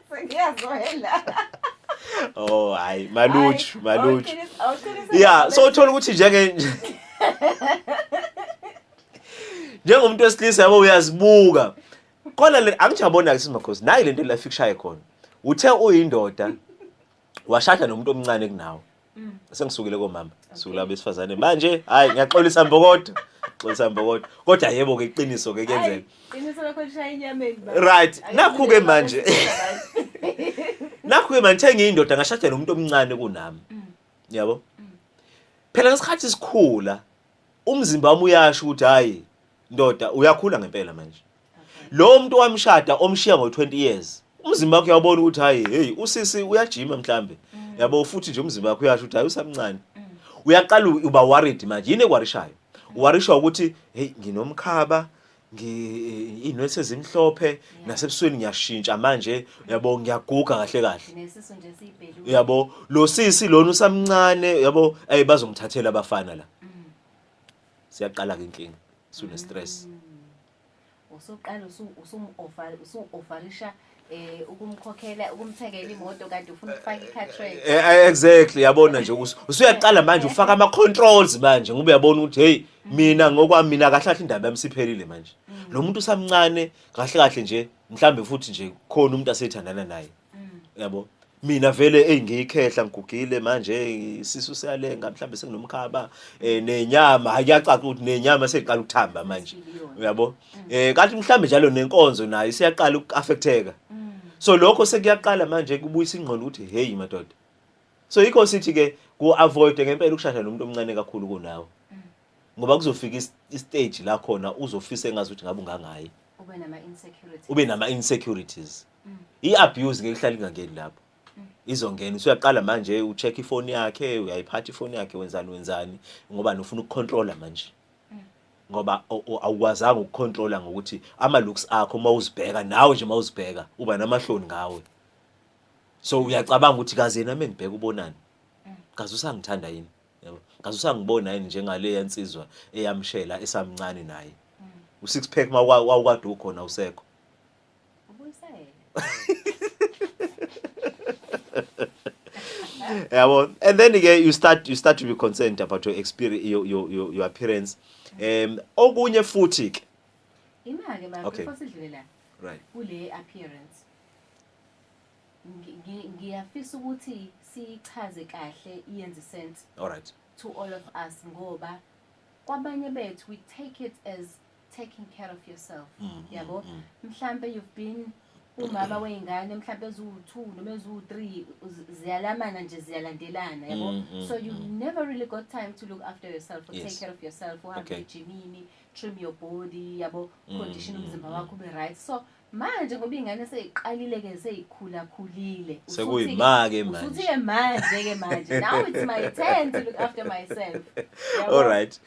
sengiyazwela oh hayi maluju maluju yeah so uthola ukuthi njenge njengomuntu wesilisa yabo uyazibuka khona le angijabona ke simakhosi nayi lento la fikushaye khona uthe uyindoda washada nomuntu omncane kunawe Mm. Sengisukile komama, sukula besifazane. Manje hayi ngiyaxolisa mbokodo. Xolisa mbokodo. Kodwa yebo ke iqiniso ke kuyenzeka. Iqiniso lakho lishaya inyameni ba. Right. Nakhu ke manje. Nakhu ke manje thenga indoda ngashadela umuntu omncane kunami. Mm. Yabo? Mm. Phela ngesikhathi sikhula umzimba wami uyasho ukuthi hayi ndoda uyakhula ngempela manje lo muntu wamshada omshiya ngo-20 years umzimba wakhe uyabona ukuthi hayi heyi usisi uyajima mhlambe mm. yabo futhi nje umzimba wakhe uyasho ukuthi hayi usamncane mm. uyaqala uba worried manje yini ekwarishayo mm. uwarishwa ukuthi heyi nginomkhaba inwesi ezimhlophe nasebusweni ngiyashintsha manje yabo ngiyaguga kahle kahle nesisu nje sibhelu yabo lo sisi lona usamncane yabo ay bazomthathela abafana la mm. siyaqala ke inkinga sune stress mm. usuqala usu usu offer usu offerisha eh ukumkhokhela ukumthengela imoto kanti ufuna ukufaka i-cartridge Eh, eh, exactly yabona nje ukuthi usuyaqala manje ufaka ama controls manje ngoba uyabona ukuthi hey mina ngokwami mina kahle kahle indaba yami siphelile manje lo muntu usamncane kahle kahle nje mhlambe futhi nje khona umuntu aseyithandana naye yabo mina vele eyi ngiyikhehla ngigugile manje isisu siyalenga mhlawumbe senginomkhaba um nenyama hayi kuyacaca ukuthi nenyama seyiqala ukuthamba manje uyabo um kanti mhlawumbe njalo nenkonzo nayo isiyaqala uku-affecteka so lokho sekuyaqala manje kubuyisa ingqondo ukuthi heyi madoda so yikho sithi-ke ku-avoide ngempela ukushada nomuntu omncane kakhulu kunawo ngoba kuzofika istage la khona uzofisa engazi ukuthi ngabe ungangayi ube nama-insecurities i-abuse ngeke ihlale ingangeni lapho izongena usuyaqala manje ucheck ifoni yakhe uyayiphatha ifoni yakhe wenzani wenzani ngoba nofuna ukucontrola manje ngoba awukwazanga ukucontrola ngokuthi ama looks akho uma uzibheka nawe nje uma uzibheka uba namahloni ngawe so uyacabanga ukuthi kaze yena mengibheka ubonani kaze usangithanda yini yabo kaze usangibona yini njengale yansizwa eyamshela esamncane naye u six pack mawukade ukhona usekho yeah, well, and then again you start you start to be concerned about your experience your your your, your appearance um okunye futhi ke imake mama okay. before sidlule la right kule appearance ngiyafisa ukuthi sichaze kahle iyenze sense all right to all of us ngoba kwabanye bethu we take it as taking care of yourself mm, mm yabo mm, mm. mhlambe you've been umama wey'ngane mhlawumbe eziwu-two noma eziwu-three ziyalamana nje ziyalandelana yabo mm, mm, so you mm. never really got time to look after yourself or yes. take care of yourself uhambe okay. ejimini trim your body yabo mm, condition umzimba mm, wakho ube right so manje ngoba ingane seyiqalile ke seyikhula khulile sekuyima ke manje usuthi ke manje ke manje now it's my turn to look after myself all right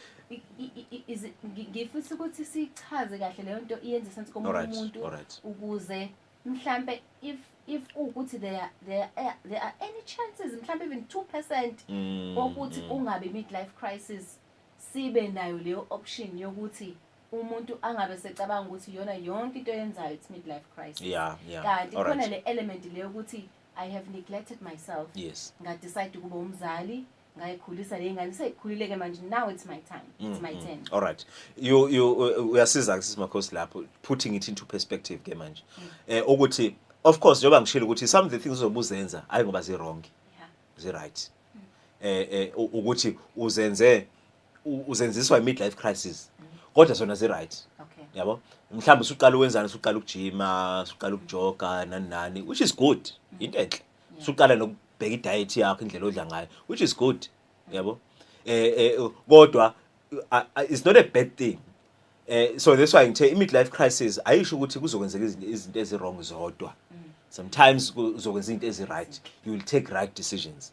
ngifisa ukuthi sichaze kahle leyo nto iyenze sense komunye umuntu ukuze mhlambe if if ukuthi there are, there are, there are any chances mhlambe even 2% mm, ukuthi mm. ungabe midlife crisis sibe nayo leyo option yokuthi umuntu angabe secabanga ukuthi iyona yonke into yenzayo it's midlife crisis yeah, yeah. kanti khona right. le element le yokuthi i have neglected myself yes ngadecide ukuba umzali ngayikhulisa le ngane seyikhulileke manje now it's my time it's mm -hmm. my mm. turn all right you you uyasiza ke simakhosi lapho putting it into perspective ke manje mm. eh ukuthi of course njengoba ngishilo ukuthi some of the things ozobuzenza ayi ngoba zi wrong yeah. zi right mm. eh eh ukuthi uzenze u- uzenziswa i-midlife crisis kodwa zona zi-right Okay. yabo mhlawumbe usuqala uwenzani usuqala ukujima usuqala ukujoga nani nani which is good yinto enhle usuqala nokubheka idayethi yakho indlela odla ngayo which is good yabo eh eh, kodwa uh, uh, it's not a bad thing eh so that's why ngithe i-midlife crisis ayisho ukuthi kuzokwenzeka izinto- izinto ezi-wrong zodwa sometimes kuzokwenza izinto ezi-right you will take right decisions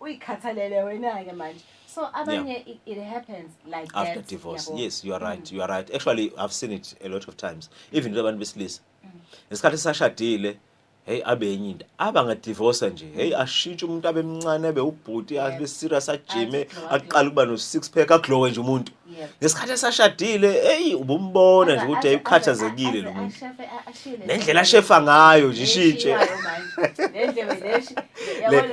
uyikhathalele wena ke manje so abanye yeah. it, it happens like after that, divorce yabo. yes you are right mm. you are right actually i've seen it a lot of times even abantu besilisa mm. ngesikhathi sashadile hey abe enye into abangadivorce nje hey ashintshe umuntu abemncane abe ubhuti abe serious ajime aqala ukuba no six pack aglowe nje umuntu ngesikhathi esashadile eyi ubumbona nje ukuthi ayikhathazekile lo muntu nendlela ashefa ngayo nje ishintshe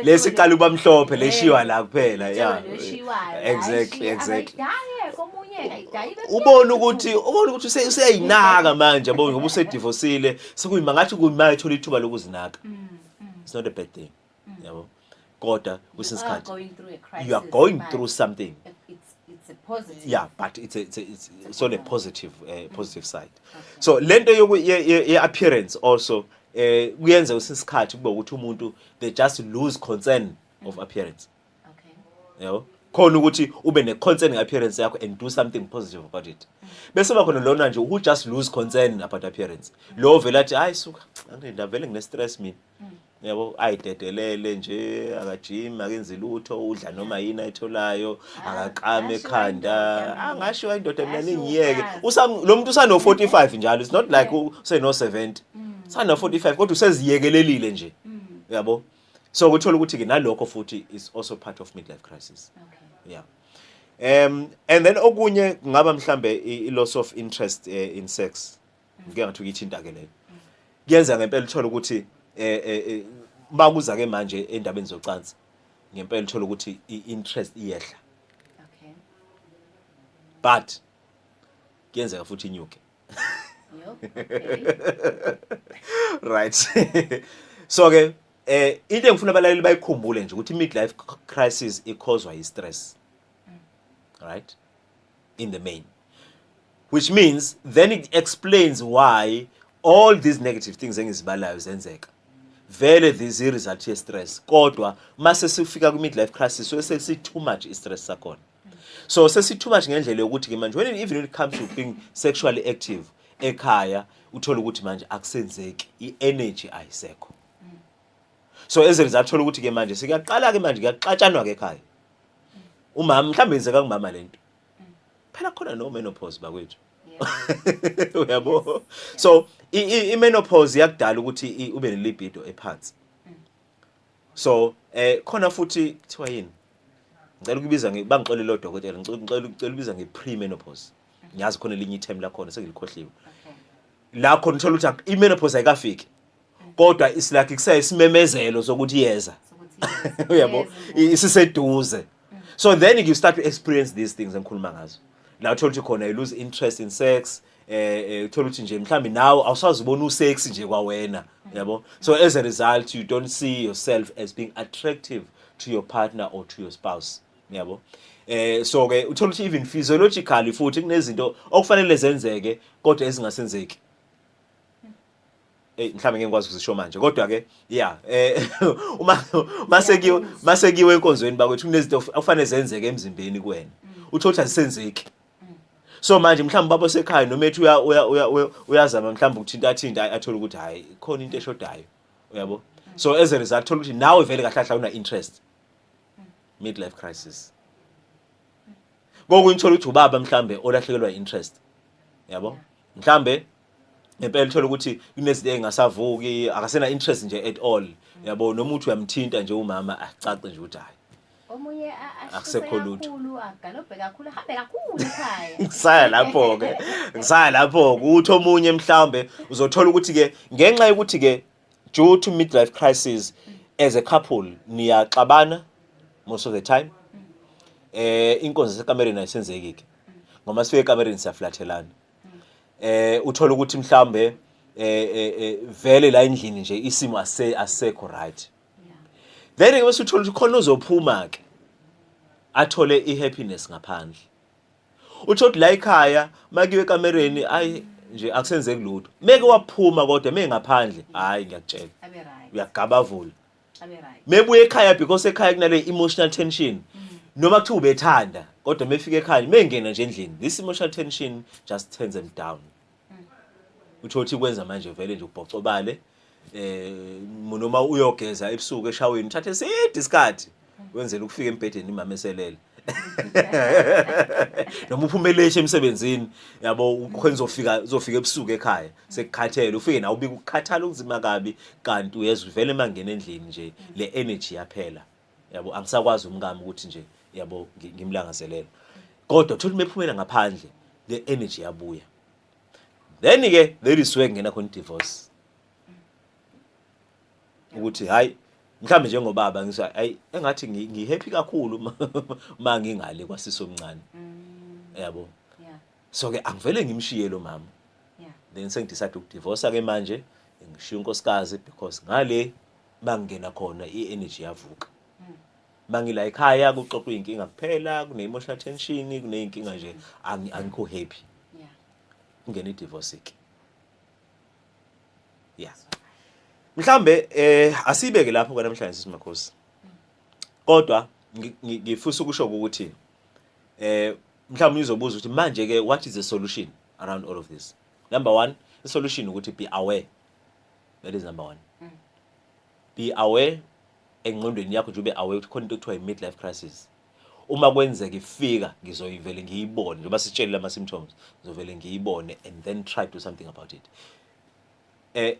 lesi qala uba mhlophe leshiwa la kuphela ya exactly exactly ubona ukuthi ubona ukuthi useyayinaka manje yabo ngoba usedivosile sekuyima ngathi kuyima ethola ithuba lokuzinaka mm, mm. it's not a bad thing mm. yabo kodwa kwesinye isikhathi you are going through something it's a positive yeah but it's a, it's, a, it's, it's on a positive uh, mm. positive side okay. so lento yoku ye appearance also eh kuyenza kwesinye isikhathi kube ukuthi umuntu they just lose concern mm. of appearance okay yabo khona ukuthi ube ne concern appearance yakho and do something positive about it mm. bese ba khona lona nje who just lose concern about appearance lo vela athi hayi suka angindavele ngine stress mina yabo ayidedelele nje akajimi akenzi lutho udla noma yini ayitholayo ah, akaqame ekhanda angasho indoda mina ningiyeke lo muntu usano-45 njalo it's not like useno-70 mm. usano-45 kodwa useziyekelelile nje mm. yabo so kuthola ukuthi-ke nalokho futhi is also part of midlife crisis yeah um and then okunye kungaba mhlambe i-loss of interest eh, in sex ngike ngathi ukithinta ke leyo kuyenza ngempela uthola ukuthi eh, eh, eh bakuza ke manje endabeni zocansi ngempela uthola ukuthi i-interest iyehla okay but kuyenzeka futhi inyuke right so ke eh into engifuna abalaleli bayikhumbule nje ukuthi midlife crisis ikhozwa yi stress mm. right in the main which means then it explains why all these negative things engizibalayo zenzeka vele this result ye stress kodwa mase sifika ku midlife crisis so sesi too much i stress sakhona so sesi too much ngendlela yokuthi ke manje when even when it comes to being sexually active ekhaya uthola ukuthi manje akusenzeki i energy ayisekho so as a result thola ukuthi ke manje sikuyaqala ke manje kuyaxatshanwa ke ekhaya umama mhlawumbe yenzeka kumama lento phela khona no menopause bakwethu uyabo so i menopause yakudala ukuthi ube ne libido ephansi mm. so eh khona futhi kuthiwa yini ngicela ukubiza bangixolele lo dokotela ngicela ukubiza nge pre menopause mm-hmm. ngiyazi khona elinye ithemu lakhona sengilikhohliwe lakho nithola ukuthi i menopause ayikafiki kodwa it's like kusaye simemezelo sokuthi yeza uyabo isiseduze mm. so then you start to experience these things engikhuluma ngazo la uthola ukuthi khona you lose interest in sex eh, eh uthola ukuthi nje mhlambi nawe awusazibona usex nje kwawena mm. yabo so as a result you don't see yourself as being attractive to your partner or to your spouse yabo eh so ke uthola ukuthi even physiologically futhi kunezinto okufanele zenzeke kodwa ezingasenzeki Ey mhlambe ngeke ngikwazi ukuzisho manje kodwa ke yeah eh uma mase kiwe mase kiwe enkonzweni bakwethu kunezinto okufanele zenzeke emzimbeni kuwena mm. uthola ukuthi azisenzeki mm. so manje mhlawumbe babo sekhaya noma ethi uya uya uyazama mhlawumbe ukuthinta athinta athole ukuthi hayi khona into eshodayo uyabo mm. so as a result thola ukuthi nawe vele kahle kahle una interest midlife crisis ngoku ngithola ukuthi ubaba mhlambe olahlekelwa interest yabo mhlambe ngempela uthola ukuthi kunezinto engasavuki akasena interest nje at all yabo noma uthi uyamthinta nje umama acace nje ukuthi hayi omunye akusekho lutho agalobhe kakhulu ahambe kakhulu ekhaya ngisaya lapho ke ngisaya lapho ukuthi omunye mhlawumbe uzothola ukuthi ke ngenxa yokuthi ke due to midlife crisis as a couple niyaxabana most of the time eh inkonzo sekamereni ayisenzeki ke ngoba sifike ekamereni siyaflathelana eh uthola ukuthi mhlambe eh, eh, eh vele la endlini nje isimo ase asekho right then ke bese uthola ukuthi khona uzophuma ke athole i happiness ngaphandle utho la ekhaya makiwe ekamereni ayi nje akusenzeki lutho meke waphuma kodwa mengaphandle hayi ngiyakutshela uyagabavula mebuya ekhaya because ekhaya kunale emotional tension mm. noma kuthiwa ubethanda kodwa mefika ekhaya mengena nje endlini this emotional tension just turns them down mm. utho uthi kwenza manje vele nje ubhocobale eh noma uyogeza ebusuku eshaweni uthathe side isikhathi mm. wenzela ukufika embhedeni imama eselele noma uphumeleisha emsebenzini yabo ukhona uzofika uzofika ebusuku ekhaya sekukhathele ufike nawe ubika ukukhathala okunzima kabi kanti uyeza uvele mangena endlini nje le energy yaphela yabo angisakwazi umkami ukuthi nje yabo ngimlangazelela kodwa thola mephumela ngaphandle le energy yabuya then ke there is where ngena khona divorce ukuthi hayi mhlawumbe njengobaba ngisho hayi engathi ngihappy kakhulu uma ngingale kwasisi omncane mm. yabo so ke angivele ngimshiye lo mama then sengidecide ukudivorce ke manje ngishiya unkosikazi because ngale bangena khona i-energy yavuka mangila mm. ekhaya kuxoxwa inkinga kuphela kune-emotional tension kuney'nkinga nje angikho happy kungena i-divorce ke yeah mhlambe eh asibeke lapho ke namhlanje simakhosi kodwa ngifisa ukusho ukuthi eh mhlawumbe uzobuza ukuthi manje ke what is the solution around all of this number 1 the solution ukuthi be aware that is number 1 mm. be aware engqondweni yakho nje ube aware ukuthi khona into ekuthiwa i midlife crisis uma kwenzeka ifika ngizoyivele ngiyibone njengoba sitshelile ama symptoms ngizovele ngiyibone and then try to do something about it eh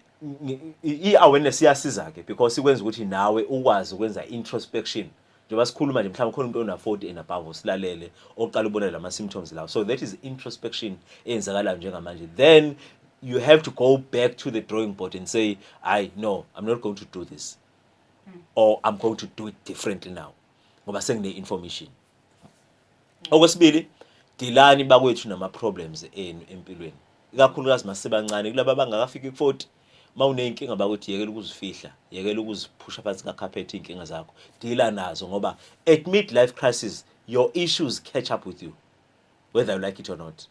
i-awareness iyasiza ke because ikwenza ukuthi nawe ukwazi ukwenza introspection njengoba sikhuluma nje mhlawumbe khona umuntu ona 40 and above osilalele oqala ubona lama symptoms lawo so that is introspection eyenzakalayo njengamanje then you have to go back to the drawing board and say i no i'm not going to do this hmm. or i'm going to do it differently now ngoba sengine information okwesibili dilani bakwethu nama problems enu empilweni ikakhulukazi masebancane kulaba bangakafiki ku 40 mawuneyinkinga bakuthi yekela ukuzifihla yekela ukuziphusha phansi ka carpet inkinga zakho dila nazo ngoba at mid life crisis your issues catch up with you whether you like it or not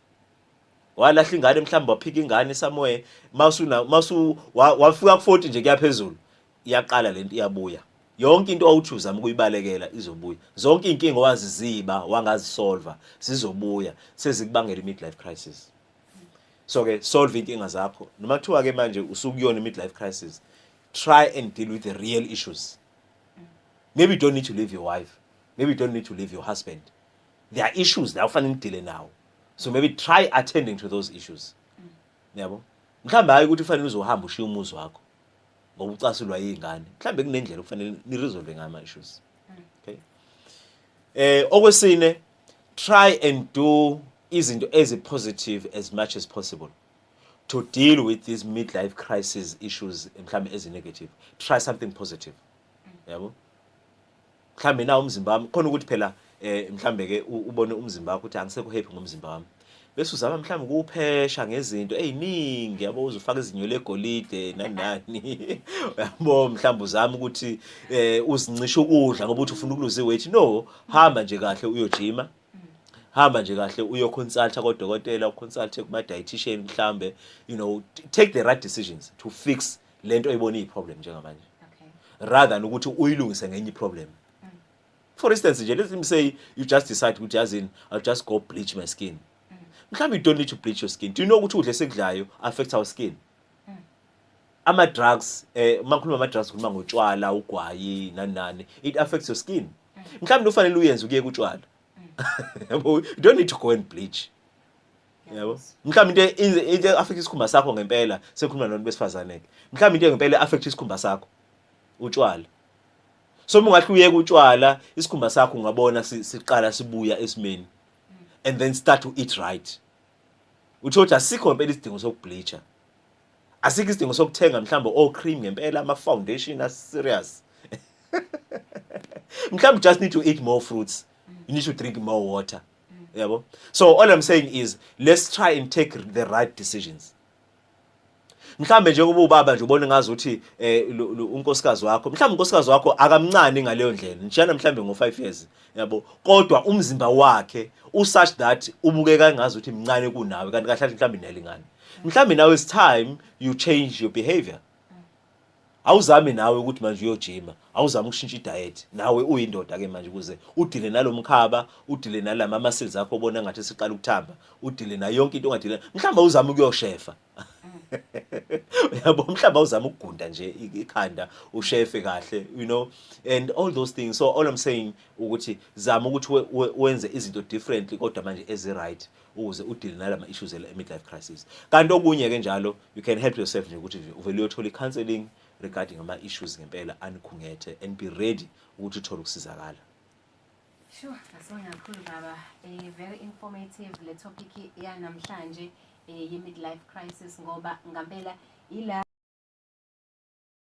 walahla ingane mhlawumbe waphika ingane somewhere masu masu wafika ku 40 nje kuyaphezulu iyaqala lento iyabuya yonke into owuthi uzama ukuyibalekela izobuya zonke izinkinga owaziziba wangazisolva zizobuya sezikubangela i-midlife crisis so ke solve inkinga zakho noma kuthiwa ke manje usukuyona i-midlife crisis try and deal with the real issues maybe you don't need to leave your wife maybe you don't need to leave your husband there are issues la ufanele nidile nawo so maybe try attending to those issues niyabo mhlawumbe hayi ukuthi ufanele uzohamba ushiye umuzi wakho ngokucasulwa yingane mhlambe kunendlela okufanele ni resolve ngayo ama issues okay eh okwesine try and do izinto ezi positive as much as possible to deal with these midlife crisis issues mhlambe ezi negative try something positive yabo yeah, mhlambe na umzimba wami khona ukuthi phela eh mhlambe ke ubone umzimba wakho ukuthi angisekho happy ngomzimba wami bese uzama mhlawumbe ukuwuphesha ngezinto eziningi yabo uzofaka izinyo legolide nani nani yabo mhlawumbe uzama ukuthi eh uzincisha ukudla ngoba uthi ufuna ukuluza iweight no hamba nje kahle uyojima hamba nje kahle uyo consulta kodokotela uconsulte kuma dietitian mhlambe you know take the right decisions to fix lento oyibona iyi problem njengamanje okay rather than ukuthi uyilungise ngenye problem mm. for instance nje let me say you just decide ukuthi yazini i'll just go bleach my skin mm. mhlawumbe you don't need to bleach your skin do you know ukuthi udle sekudlayo affect our skin mm. ama drugs eh makhuluma ama drugs khuluma ngotshwala ugwayi nani nani it affects your skin mm. mhlawumbe ufanele uyenze ukuye kutshwala mm. you don't need to go and bleach yabo mhlawumbe into e-, into affect isikhumba sakho ngempela sekhuluma nonto besifazane ke mhlawumbe into ngempela affect isikhumba sakho utshwala so uma ungahle uyeke utshwala isikhumba sakho ungabona siqala sibuya esimeni and then start to eat right utho ukuthi asikho ngempela isidingo sokubleacher asikho isidingo sokuthenga mhlawumbe o cream ngempela ama foundation as serious mhlawumbe just need to eat more fruits you need to drink more water yabo so all i'm saying is let's try and take the right decisions mhlambe nje kuba ubaba nje ubona ngazi ukuthi eh, unkosikazi wakho mhlambe unkosikazi wakho akamncane ngaleyo ndlela njana mhlambe ngo 5 years yabo kodwa umzimba wakhe u such that ubukeka ngazi ukuthi mncane kunawe kanti kahle mhlambe inelingane mhlambe now is time you change your behavior awuzame nawe ukuthi manje uyojima awuzame ukushintsha idiet nawe uyindoda ke manje ukuze udile nalomkhaba udile nalama muscles akho obona ngathi siqala ukuthamba udile nayo yonke into ongadile mhlawumbe awuzame ukuyoshefa yabo mhlawumbe awuzame ukugunda nje ikhanda ushefe kahle you know and all those things so all i'm saying ukuthi zama ukuthi wenze izinto differently kodwa manje ezi right ukuze udile nalama issues ele midlife crisis kanti okunye ke njalo you can help yourself nje ukuthi uvele uyothola counseling regarding ama issues ngempela anikhungethe and be ready ukuthi uthole ukusizakala Sure, asonga kakhulu baba. Eh very informative le topic ya namhlanje eh ye midlife crisis ngoba ngampela ila